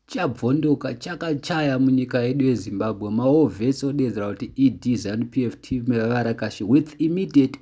Chabvondoka chakachaya munyika yedu yeZimbabwe, maWar Vets odeedzera kuti ED Zanu PF Team Vavarakashi with immediate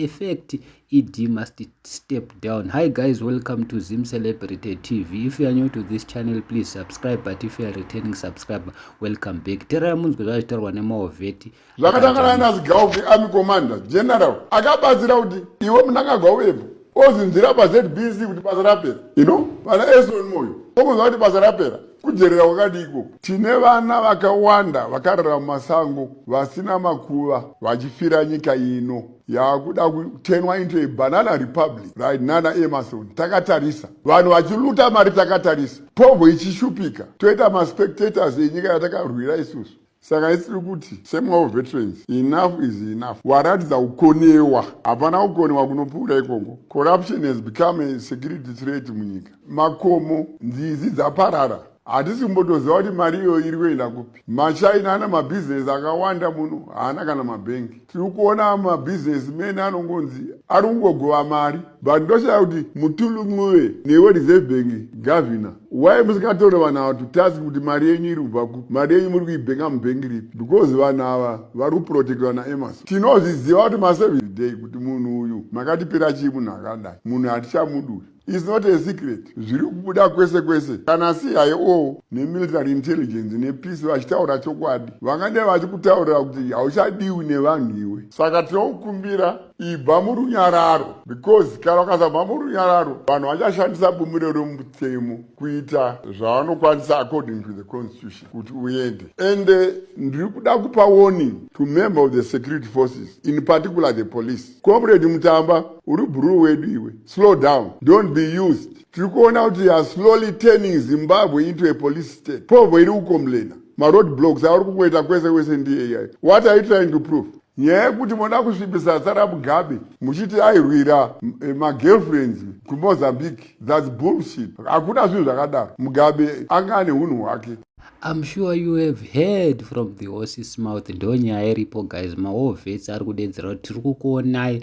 effect ED must step down. Hi guys, welcome to Zim Celebrity TV. If you are new to this channel, please subscribe but if you are returning subscriber, welcome back. Tererai munzwe zvazvitaurwa nemaWar Vets. zvakatangana nazigaufi army commander general akabatsira kuti iwe munangagwa uyepo ozinzira pazbc kuti basa rapera ino vana eson moyo okunzwa kuti basa rapera kujerera kwakadi ikoko tine vana vakawanda vakarara mumasango vasina makuva vachifira nyika ino yakuda kutenwa into a banana republic right nana emerson takatarisa vanhu vachiluta mari takatarisa povo ichishupika toita maspectators enyika yatakarwira isusu saka isiri kuti same wavo veterans enough is enough waratidza kukonewa hapana kukonewa kunopfuura ikoko corruption has become a security threat munyika makomo nzizi dzaparara hatisi kumbotoziva kuti mari iyo iri kuenda kupi machina ana mabhizinesi akawanda muno haana kana mabhengi tiri kuona mabhizinesmen anongonzi ari kungogova mari but ndoshaya kuti mutulu muve newe reserve bank gavhina why musikatori vanhu ava to task kuti mari yenyu iri kubva ku mari yenyu muri kuibhenga mubhengi ripi because vanhu ava vari kuprotektwa naemason tinozviziva kuti maservice day kuti munhu uyu makatipira chii munhu akadai munhu hatichamuduri It's not a secret zviri kubuda kwese kwese kana CIO nemilitary intelligence nepeace vachitaura chokwadi vangadai vachikutaurira kuti hauchadiwi nevanhu iwe saka tinokukumbira ibva murunyararo because kana ukasabva murunyararo vanhu vachashandisa bumiro remutemo kuita zvavanokwanisa according to the constitution kuti uende and eh, ndiri kuda kupa warning to member of the security forces in particular the police Comrade Mutamba uri bruu wedu iwe. Slow down. Don't be used. Tiri kuona kuti you are slowly turning Zimbabwe into a police state. Povo iri kukomlena. Maroad blocks auri kungoita kwese kwese ndiye What are you trying to prove? nyaya yekuti moda kusvibisa tsara mugabe muchiti airwira eh, magirlfriends kumozambique thats bullshit hakuna zvinhu zvakadaro mugabe anga ane unhu hwake I'm sure you have heard from the horse's mouth ndonyaya iripo guys mawar vets ari kudedzera kuti tiri kukuonai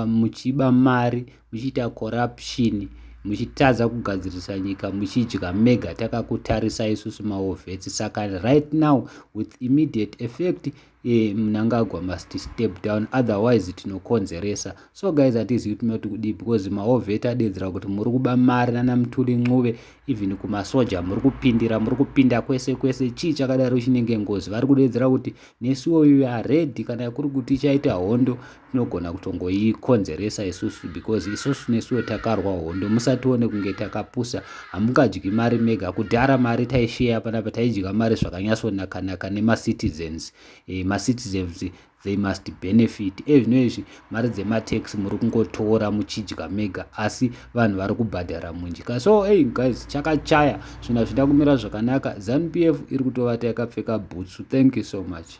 muchiba mari muchiita corruption muchitadza kugadzirisa nyika muchidya mega takakutarisa isusu mawar vets saka right now with immediate effect e, mnangagwa must step down otherwise tinokonzeresa so guys hatizivi tinoti kudii because maovheti adeedzera kuti muri kuba mari nana mtuli ncuve even kumasoja muri kupindira muri kupinda kwese kwese chii chakadaro chinenge ngozi vari kudeedzera kuti nesuwo we are ready kana kuri kuti chaita hondo tinogona kutongoikonzeresa isusu because isusu nesuwo takarwa hondo musatione kunge takapusa hamungadyi mari mega kudhara mari taisheya panapa taidya mari zvakanyasonakanaka nemacitizens e, eh, macitizens they must benefit ezvino eh, izvi mari dzematax muri kungotora muchidya mega asi vanhu vari kubhadhara munjika so hey eh, guys chakachaya zvinhu hazvida kumira zvakanaka zanupf iri kutovata yakapfeka bhutsu thank you so much